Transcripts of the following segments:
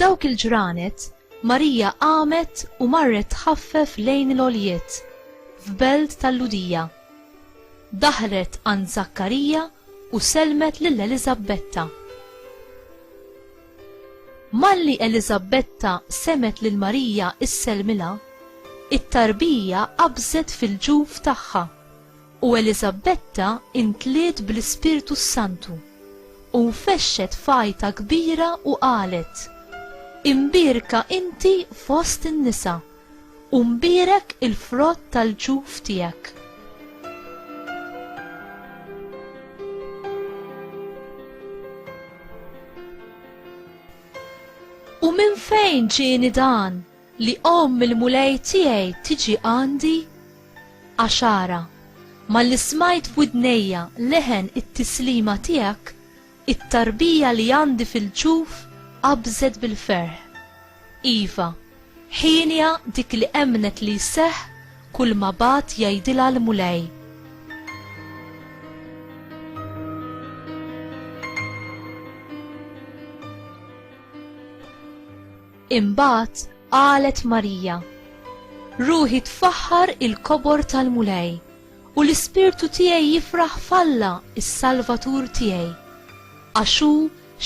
F'dawk il-ġranet, Marija qamet u marret tħaffef lejn l-oljiet, f'belt tal-Ludija. Daħlet għand Zakkarija u selmet lil Eliżabbetta. Malli Eliżabetta semgħet lil Marija issellmilha, it-tarbija qabżet fil-ġuf tagħha, u Eliżabetta intliet bl-Ispirtu s-Santu, u nfexxet f'għajta kbira u qalet, Imbierka inti fost in-nisa. U mbierek il-frott tal-ġuf tiegħek. U minn fejn ġieni dan li omm il-mulej tiegħi tiġi għandi? Għaxara, malli smajt f'widnejja leħen it-tislima tiegħek, It-tarbija li għandi fil-ġuf qabżet bil-ferħ. Iva, Ħienja dik li emmnet li jseħħ kulma bagħat jgħidilha l-Mulej. Imbagħad qalet Marija, Ruħi tfaħħar il-kobor tal-Mulej. U l-ispirtu tiegħi jifraħ f'Alla s-Salvatur tiegħi, għax hu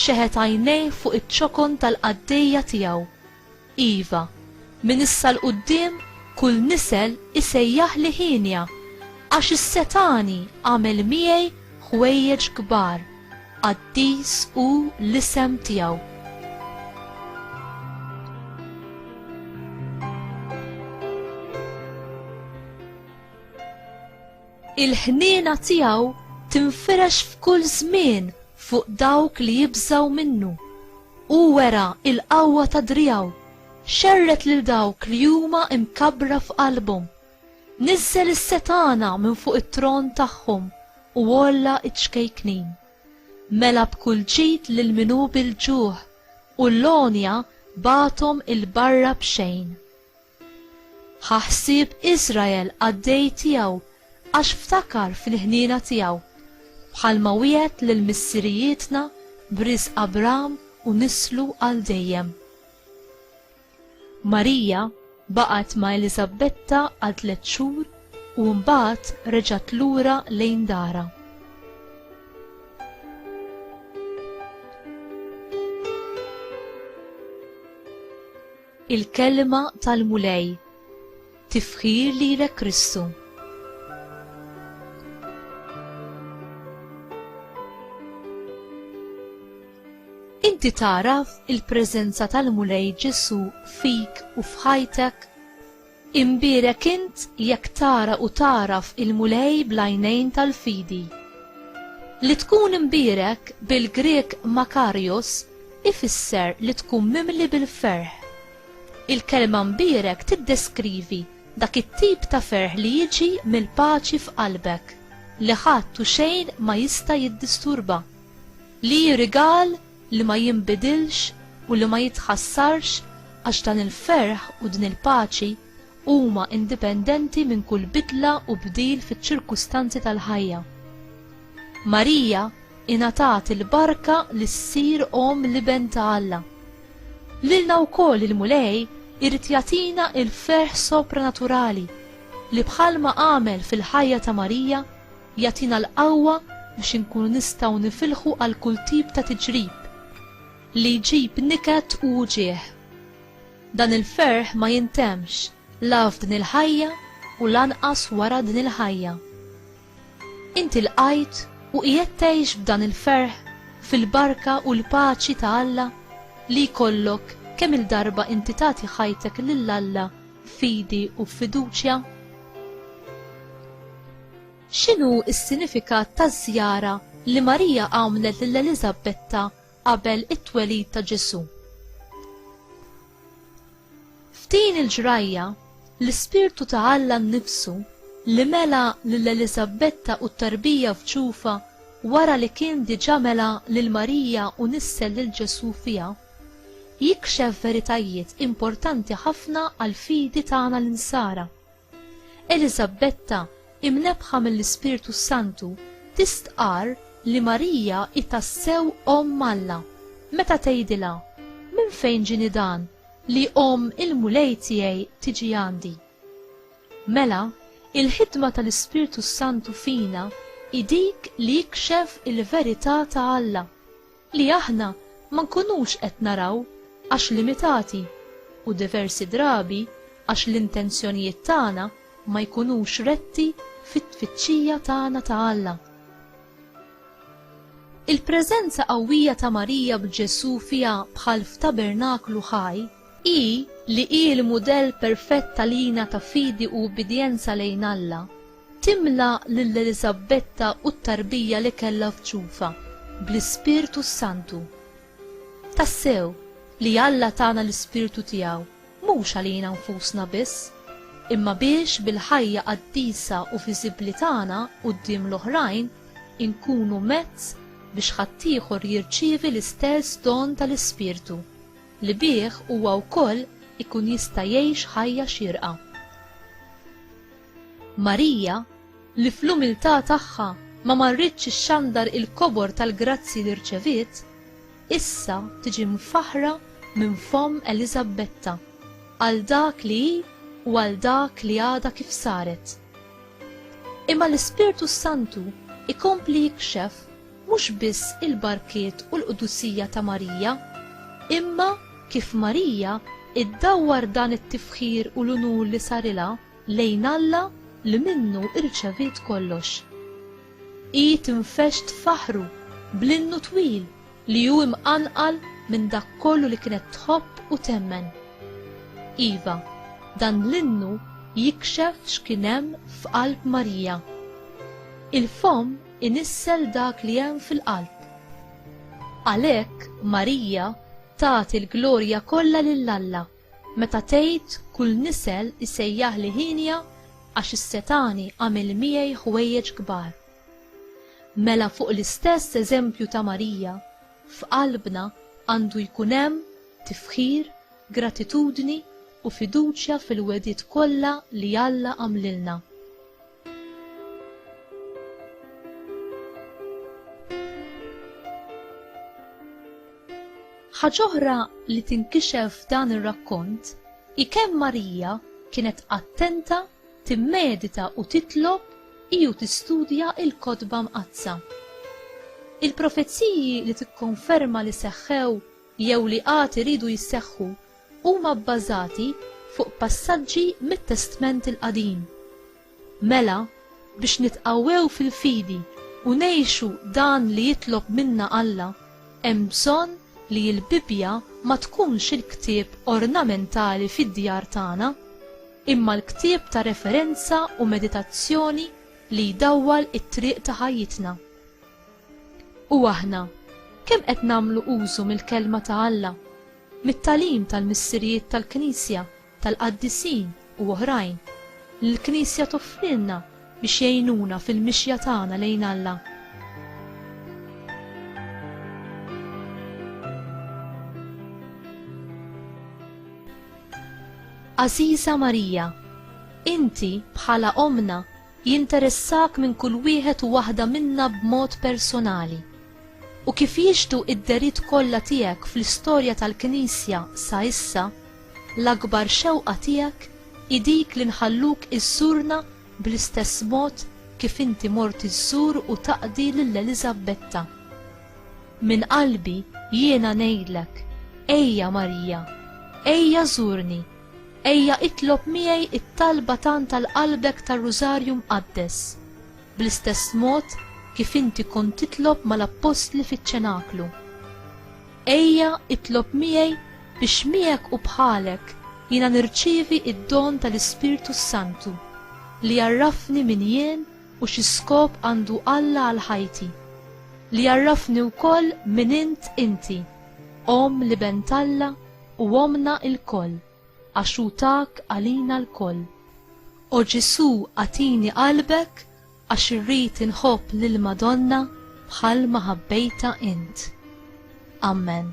xeħet għajnejh fuq iċ-ċokon tal-qaddejja tiegħu, iva, minn issa 'l quddiem kull nisel isejjaħli hienja, għax is-setgħani għamel miegħi ħwejjeġ kbar, qaddis hu l-isem tiegħu. Il-ħniena tiegħu tinfirex f'kull żmien fuq dawk li jibżgħu minnu. Hu wera l-qawwa ta' driegħu, xerred lil dawk li huma mkabbra f'qalbhom. Niżżel is-setgħana minn fuq it-tron tagħhom u għolla ċ-ċkejknin. Mela b'kull ġid lil min hu bil-ġuħ, u l-għonja bagħathom 'il barra b'xejn. Ħa ħsieb Iżrael qaddej tiegħu għax ftakar fil-ħniena tiegħu, bħalma wiegħed lil missirijietna b'risq Abram u nislu għal dejjem. Marija baqgħet ma' Eliżabbetta għal tliet xhur u mbagħad reġgħet lura lejn darha. Il-kelma tal-Mulej. Tifħir lilek Kristu. Inti tagħraf il-preżenza tal-Mulej Ġesù fik u f'ħajtek? Imbierek int jekk tara u tagħraf il-Mulej bl-għajnejn tal-fidi. Li tkun imbierek bil-Grieg makarios ifisser li tkun mimli bil-ferħ. Il-kelma mbierek tiddeskrivi dak it-tip ta' ferħ li jiġi mill-paċi f'qalbek, li ħadd u xejn ma jista' jiddisturba, li hi rigal li ma jinbidilx u li ma jitħassarx għax dan il-ferħ u din il-paċi huma indipendenti minn kull bidla u bdil fiċ-ċirkustanzi tal-ħajja. Marija ingħatat il-barka li ssir omm l-Iben ta' Alla. Lilna wkoll il-Mulej irid jagħtina l-ferħ sopranaturali li bħalma għamel fil-ħajja ta' Marija Jagħtina l-qawwa biex inkunu nistgħu nifilħu għal kull tip ta' tiġrib li jġib niket u wġigħ. Dan il-ferħ ma jintemmx la f'din il-ħajja u lanqas wara din il-ħajja. Inti lqajt u qiegħed tgħix b'dan il-ferħ fil-barka u l-paċi ta' Alla li jkollok kemm-il darba inti tagħti ħajtek lil Alla f'fidi u f'fiduċja? X'inhu s-sinifikat taż-żjara li Marija għamlet lil Eliżabetta qabel it-twelid ta' Ġesù? F'din il-ġrajja, l-Ispirtu ta' Alla nnifsu, li mela lil Eliżabetta u t-tarbija f'ġufha wara li kien diġà mela lil Marija u nissel lil Ġesù fiha, jikxef veritajiet importanti ħafna għall-fidi tagħna l-Insara. Eliżabetta, imnebbħa mill-Ispirtu s-Santu, tistqarr li Marija hi tassew Omm Alla, meta tgħidilha, Minn fejn ġieni dan li omm il-Mulej tiegħi tiġi għandi? Mela, il-ħidma tal-Ispirtu s-Santu fina hi dik li jikxef il-verità ta' Alla, li aħna ma nkunux qed naraw għax limitati u diversi drabi għax l-intenzjonijiet tagħna ma jkunux retti fit-tfittxija tagħna ta' Alla. Il-preżenza qawwija ta' Marija b'Ġesù fiha bħal f'tabernaklu ħaj hi li hi l-mudell perfett għalina ta' fidi u ubbidjenza lejn Alla. Timla lil Eliżabbetta u t-tarbija li kellha f'ġufha bl-Ispirtu s-Santu. Tassew, li Alla tana l-Ispirtu tiegħu mhux għalina nfusna biss, imma biex bil-ħajja qaddisa u viżibbli tagħna quddiem l-oħrajn inkunu mezz biex ħaddieħor jirċievi l-istess don tal-Ispirtu, li bih huwa wkoll ikun jista' jgħix ħajja xierqa. Marija, li fl-umiltà tagħha ma marritx ixxandar il-kobor tal-grazzji li rċeviet, issa tiġi mfaħħra minn fomm Eliżabbetta għal dak li hi u għal dak li għadha kif saret. Imma l-Ispirtu s-Santu jkompli jikxef mhux biss il-barkiet u l-qdusija ta' Marija, imma kif Marija iddawwar dan it-tifħir u l-unur li sarilha lejn Alla li minnu irċeviet kollox. Hi tinfexx tfaħħru bl-innu twil li hu imqanqal minn dak kollu li kienet tħobb u temmen. Iva, dan l-innu jikxef x'kien hemm f'qalb Marija. Il-fomm inissel dak li hemm fil-qalb. Għalhekk Marija tagħti l-glorja kollha lil Alla. Meta tgħid kull nisel isejjaħli ħienja għax is-setgħani għamel miegħi ħwejjeġ kbar. Mela fuq l-istess eżempju ta' Marija, f'qalbna għandu jkun hemm tifħir, gratitudni u fiduċja fil-wegħdiet kollha li Alla għamlilna. Ħaġ'oħra li tinkixef f'dan ir-rakkont hi kemm Marija kienet attenta timmedita u titlob hi u tistudja l-Kotba Mqaddsa. Il-profeziji li tikkonferma li seħħew jew li għad iridu jseħħu huma bbażati fuq passaġġi mit-Testment il-Qadim. Mela, biex nitqawwew fil-fidi u ngħixu dan li jitlob minna Alla, hemm bżonn li l-Bibbja ma tkunx il-ktieb ornamentali fid-djar tagħna, imma l-ktieb ta' referenza u meditazzjoni li jdawwal it-triq ta' ħajjitna. U aħna, kemm qed nagħmlu użu mill-Kelma ta' Alla, mit-tagħlim tal-missirijiet tal-Knisja, tal-qaddisin u oħrajn, li l-Knisja toffrilna biex jgħinuna fil-mixja tagħna lejn Alla? Għażiża Marija, inti, bħala Ommna, jinteressak minn kull wieħed u waħda minna b'mod personali, u kif jixhdu d-dehriet kollha tiegħek fl-istorja tal-Knisja sa issa, l-akbar xewqa tiegħek hi dik li nħalluk iżżurna bl-istess mod kif inti mort iżżur u taqdi lil Eliżabbetta. Minn qalbi jiena ngħidlek, ejja Marija, ejja żurni Ejja itlob miegħi t-talba tant għal qalbek tar-Rużarju Mqaddes, bl-istess mod kif inti kont titlob mal-appostli fiċ-Ċenaklu. Ejja itlob miegħi biex miegħek u bħalek jiena nirċievi d-don tal-Ispirtu s-Santu li jgħarrafni min jien u xi skop għandu Alla għal ħajti, li jgħarrafni wkoll min int inti, Omm l-Iben t'Alla, u ommna lkoll, għax hu tak għalina lkoll. O Ġesù agħtini qalbek għax irrid inħobb lill-Madonna bħal ma ħabbejtha int. Ammen.